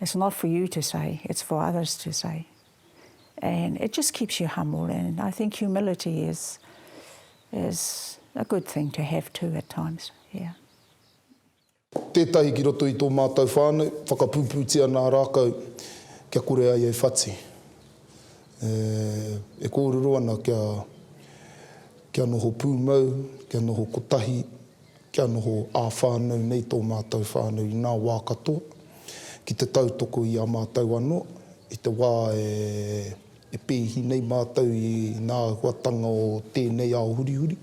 It's not for you to say, it's for others to say. And it just keeps you humble and I think humility is is a good thing to have too at times, yeah. Tētahi ki roto i tō mātou whānau, whakapūpūtia nā rākau kia kore ai e whati. E kōrero ana kia noho pūmau, kia noho kotahi. Kia noho ā-whānau nei tō mātou whānau i ngā wā katoa, ki te tautoko i a mātou anō, i te wā e pēhi nei mātou i ngā āhuatanga o tēnei ao hurihuri.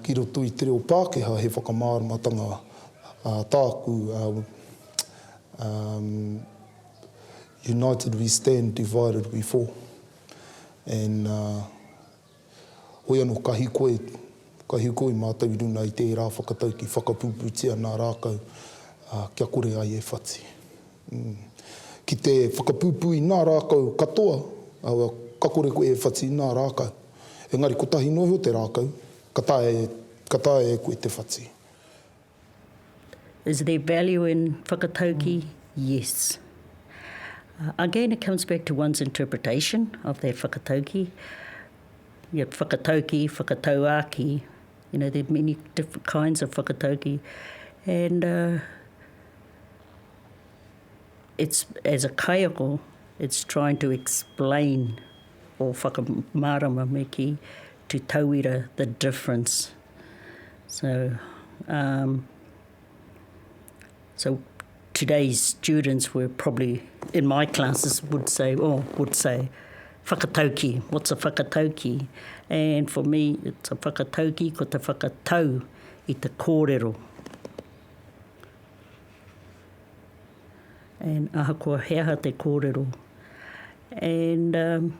Ki roto i te reo Pākehā, he whakamāramatanga tāku, United we stand, divided we fall. Hoi ano kahi koe, kahi koe matou i runa i tera whakatauki whakapuputia na rakau kia kore ai e whati. Ki te whakapupu i na rakau katoa, ka kore koe e whati i na rakau. Engari kotahi no iho te rakau, ka taea, ka taea e koe te whati. Is there value in whakatauki? Mm. Yes. Uh, again, it comes back to one's interpretation of that whakatauki. Yeah, whakatauki, whakatauaki, you know, there are many different kinds of whakatauki. And uh, it's, as a kaiako, it's trying to explain or whakamārama me ki To tauira the difference. So, um, so today's students were probably, in my classes, would say, or oh, would say, whakatauki, what's a whakatauki? And for me, it's a whakatauki, ko te whakatau i te kōrero. And ahakoa he aha te kōrero. And... Um,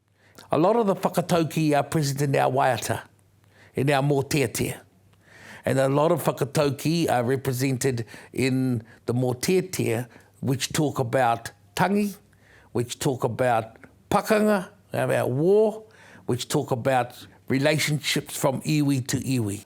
A lot of the whakatauki i a President i a waiata, i nea mōteatea. And a lot of whakatauki are represented in the mōteatea which talk about tangi, which talk about pakanga, about war, which talk about relationships from iwi to iwi.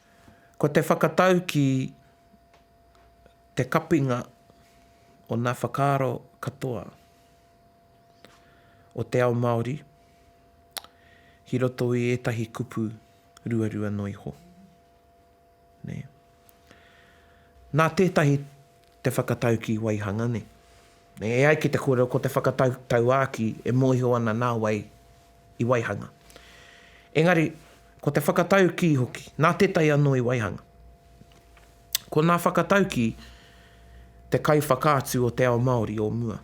Ko te whakatau ki te kapinga o ngā whakaaro katoa o te ao Māori ki roto i ētahi kupu ruarua noa iho. Nā tētahi te whakataukī waihanga nei. E ai ki te kōrero ko te whakatau tauākī e mōhio ana nā wai i waihanga. Engari, ko te whakataukī hoki, nā tētahi anō i waihanga. Ko nā whakataukī te kaiwhakaatu o te ao Māori o mua.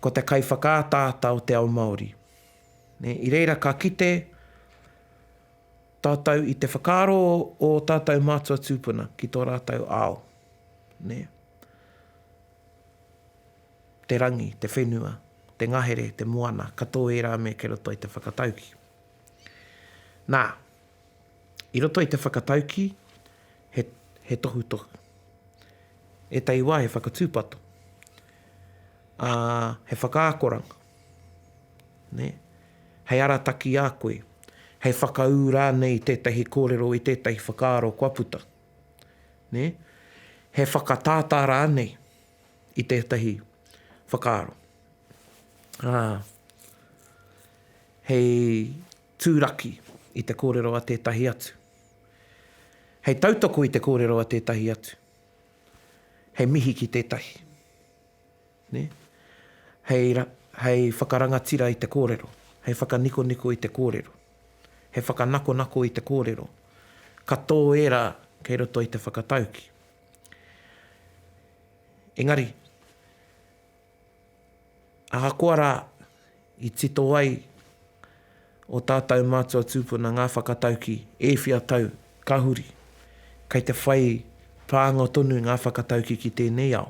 Ko te kaiwhakaataata o te ao Māori. I reira ka kite. Tātou i te whakaaro o ō tātou mātua tūpuna ki tō rātou ao, nē. Te rangi, te whenua, te ngahere, te moana, ka tō ērā mea ki roto i te whakataukī. Nā, i roto i te whakataukī, he, he tohutohu. Ētahi wā he whakatūpato, ā, he whakaakoranga. nē, hei arataki i a koe, hei whakaū rānei i tētahi kōrero, i tētahi whakaaro kua puta, nē, he whakatātā rānei i tētahi whakaaro, ā, hei tūraki i te kōrero a tētahi atu, hei tautoko i te kōrero a tētahi atu, hei mihi ki tētahi. Hei whakarangatira i te kōrero, hei whakanikoniko i te kōrero, hei whakanakonako i te kōrero, ka tō ērā kei roto i te whakataukī. Engari, ahakoa rā i tito ai ō tātou mātua tūpuna ngā whakataukī e whia tau ka huri, kei te whai pānga tonu ngā whakataukī ki tēnei ao.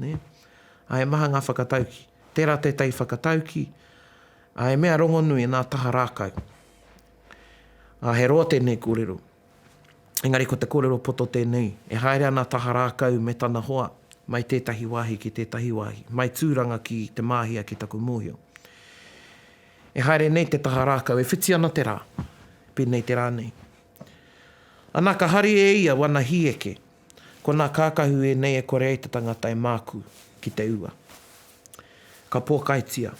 Nē? Ā, he maha ngā whakatauki. Tērā tētahi whakatauki, ā, he mea rongonui nā taha rākau. Ā, he roa tēnei kōrero. Engari ko te kōrero poto tēnei, e haere ana taha rākau me tana hoa mai tētahi wāhi ki tētahi wāhi, mai Tūranga ki Te Māhia ki taku mōhio. E haere nei te taha rākau, e whiti ana te rā, pēnei te rā nei. Anā, ka haria e ia wana hīeke. Ko nā kākahu ēnei e kore ai te tangata e mākū ki te ua. Ka pōkaitia.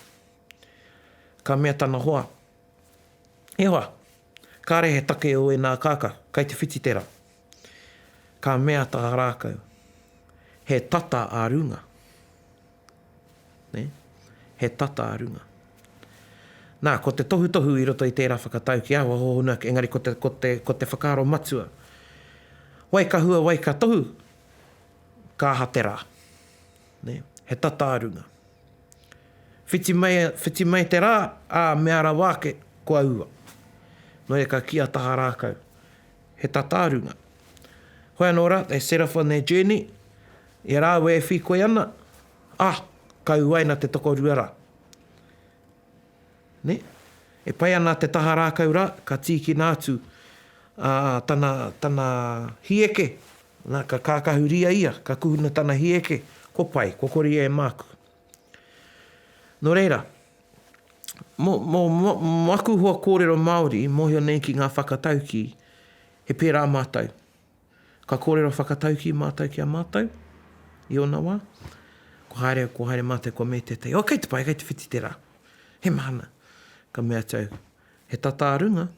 Ka mea tana hoa, E hoa! Kāre he take o ēnā kākahu, kai te whiti tērā. Ka mea tā rākau, He tata ā runga. nē, he tata a runga. Nā, ko te tohutohu i roto i tērā whakatau ki ahua hōhonu ake, engari ko te, ko te, ko te whakaaro matua, wai ka hua, wai ka tohu, ka aha te rā, nē, he tata a runga. Whiti mai, whiti mai te rā, ā, mea rawa ake, kua ua. Nō reira ka kī a Taha Rākau, he tata a runga. Hoi anō rā, they set off on their journey, I a rāua e whīkoi ana, ah, ka uaina te tokorua rā. Nē? E pai ana te taha rākau rā, ka tīkina atu a tana, tana hieke, nā, ka kākahuria ia, ka kuhuna tana hieke, ko pai, ko kori e māku. Nō reira, mō, mō, mō, mō aku hoa kōrero Māori i mōhio nei ki ngā whakataukī, he pērā mātou. Ka kōrero whakataukī mātou ki a mātou, i ōna wā. Kua haere, kua haere mātou, kua mea tētahi, Oh, kei te pae, kei te whiti tērā. He mahana. Ka mea atu au, He tata a runga.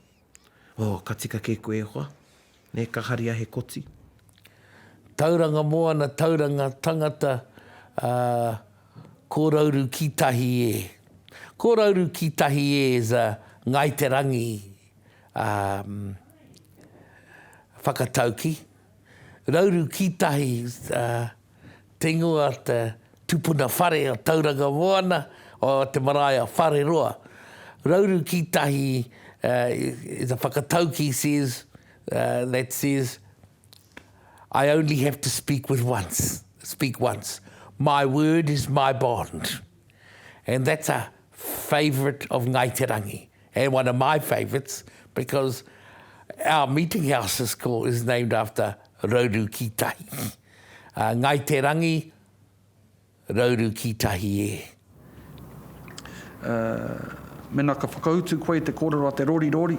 Oh, ka tika kē koe e hoa. Nē, ka haria he koti. Tauranga moana, tauranga tangata, ah, kōrauru ki tahi e. Kōrauru ki tahi e is a Ngāi Te Rangi. whakatauki, rauru ki tahi te ingoa te tupuna whare o Tauranga Moana o te marae a Whareroa. Rauru ki tahi is a whakatauki says that says I only have to speak with once, speak once. My word is my bond. and that's a favourite of Ngai Te Rangi and one of my favourites because our meeting house is called is named after Rauru ki tahi. Uh, Ngai Te Rangi, Rauru ki tahi e. Uh, mena ka whakautu koe te kōrero a te rorirori,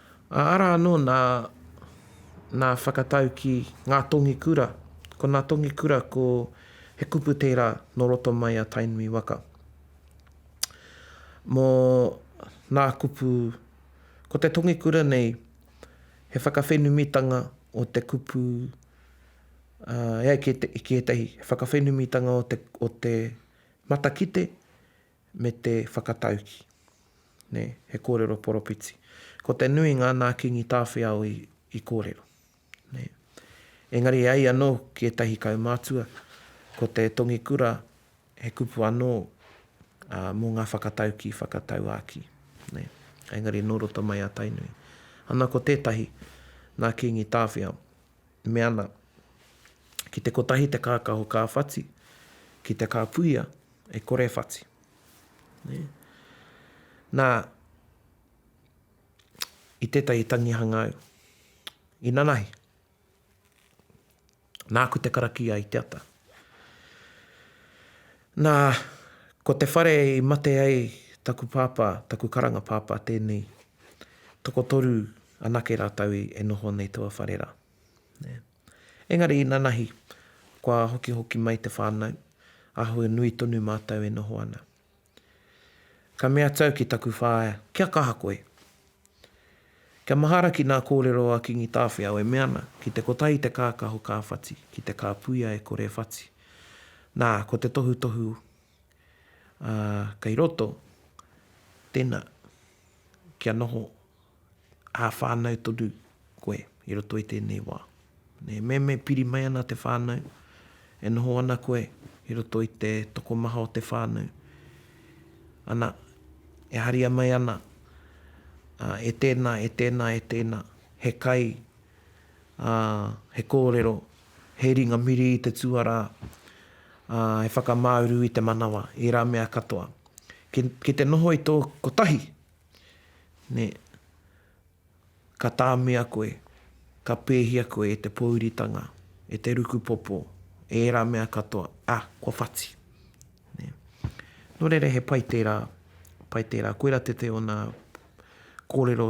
Arā anō nā, nā whakatauki ngā tongi kura. Ko nā tongi kura ko he kupu tērā nō roto mai a Tainui waka. Mō nā kupu, ko te tongi kura nei he whakawhenumitanga o te kupu e ai ki ētahi, he whakawhenumitanga o te, o te matakite me te whakatauki. Nē, he kōrero poropiti. Ko te nuinga nā Kīngi Tāwhiao i, i kōrero. Nē. Engari e ai anō ki ētahi kaumātua, ko te tongi kura he kupu anō ā, mō ngā whakatauki whakatauākī. Nē. Engari nō roto mai a Tainui. Ana ko tētahi, nā Kīngi Tāwhiao. Me ana, ki te kotahi te kākaho kāwhati, ki te kāpuia, e kore e whati. Na, i tetahi tangihanga au, i nanahi, naaku te karakia i te ata. Na, ko te whare i mate ai taku papa, taku karanga papa tenei, tokotoru anake ratou e noho nei tua whare ra. Engari inanahi, kua hokihoki mai te whānau, āhua nui tonu mātou e noho ana. Ka mea tau ki taku whaea, Kia kaha koe! Kia mahara ki nā kōrero a Kingi Tāwhiao e mea ana, ki te kotahi te kākaho ka whati, ki te kāpuia e kore e whati. Nā, ko te tohutohu kei roto, tēnā, kia noho. ā-whānau tonu koe i roto i tēnei wā. Me me piri mai ana te whānau, e noho ana koe i roto i te tokomaha o te whānau, ana, e haria mai ana, ā, e tēnā, e tēnā, e tēnā, he kai, ā, he kōrero, he ringa miri i te tuarā, ā, he whakamāuru i te manawa, ērā mea katoa. Ki, ki te noho i tō kotahi, nē, ka tāmia koe, ka pēhia koe e te pōuritanga, e te rukupōpō, e ērā mea katoa, ā, kua whati. Nē. Nō reira he pai tērā, pai tērā. Koirā te te ōna kōrero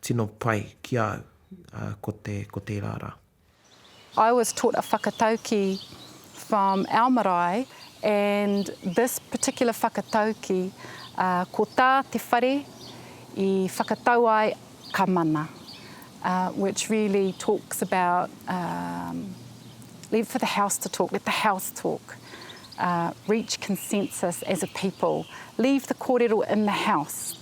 tino pai ki a au, ā, ko te, ko tērā rā. I was taught a whakatauki from our marae and this particular whakatauki ko tā te whare i whakatau ai ka mana which really talks about leave for the house to talk, let the house talk reach consensus as a people leave the kōrero in the house.